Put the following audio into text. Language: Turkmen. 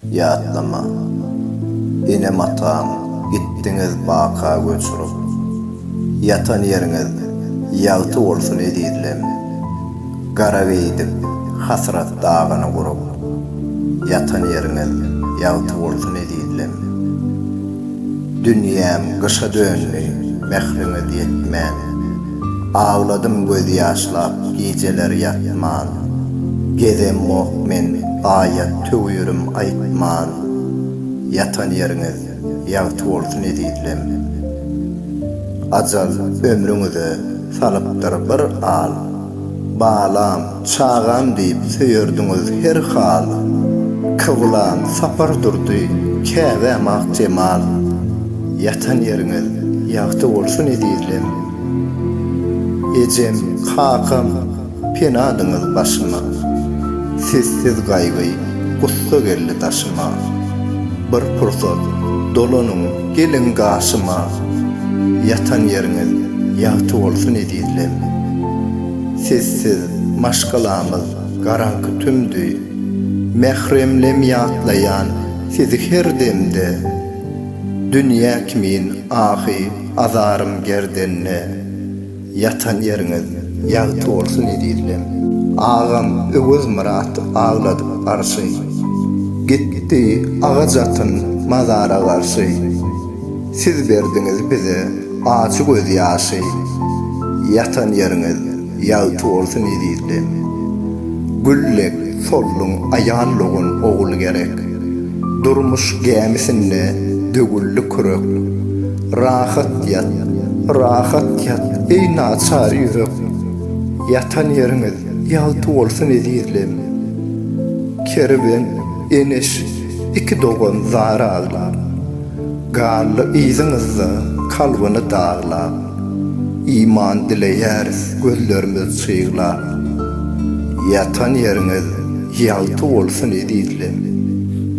Ýatlama. Enem-atam gitdiňiz baka göç urup. Ýatan ýeriňiz ýagty bolsun ezizlem. Gara geýdik hasrat dagyny gurup. Ýatan ýeriňiz ýagty bolsun ezizlem. Dünýäm gyşa döndi mähriňiz ýetmän. Agladym göz ýaşlap gijeler ýatman, Gezemok men aýat töwürim aýtman, Ýatan ýeriňiz ýagty bolsun ezizlem. Ajal ömrüňize salypdyr bir al, Balam! Çagam diýip söýerdiňiz her hal. Kyblam Sapar Durdy käbäm ak jemal. Ýatan ýeriňiz ýagty bolsun ezizlem. Ejem, kakam penadyňyz başyma. Sizsiz gaýgy, gussa geldi daşyma. Bir pursat dolanyň geliň gaşyma. Ýatan ýeriňiz ýagty bolsun ezizlem. Sessiz maşgalamyz garaňky tümdi. Mähremlem ýatlaýan sizi her demde. Dünýä kimin ahy azarym gerdende. Ýatan ýeriňiz ýagty bolsun ezizlem. Agam Öwezmyrat agladyp arşy. Gitdi agaç atyn mazara garşy. Siz berdiňiz bize ajy göz ýaşy, Ýatan ýeriňiz ýagty bolsun ezizlem. Gül dek solduň aýal dogan ogul gerek, Durmuş gämisinde dögüldi kürek. Rahat ýat, rahat ýat, eý naçar ýürek, Ýatan ýeriňiz ýagty bolsun ezizlem. Kerwen, Eneş iki dogan zar aglap. Gally yzyňyzda kalbyny daglap, Iman dileýäris gözlerimiz çyglap. Ýatan ýeriňiz ýagty bolsun ezizlem.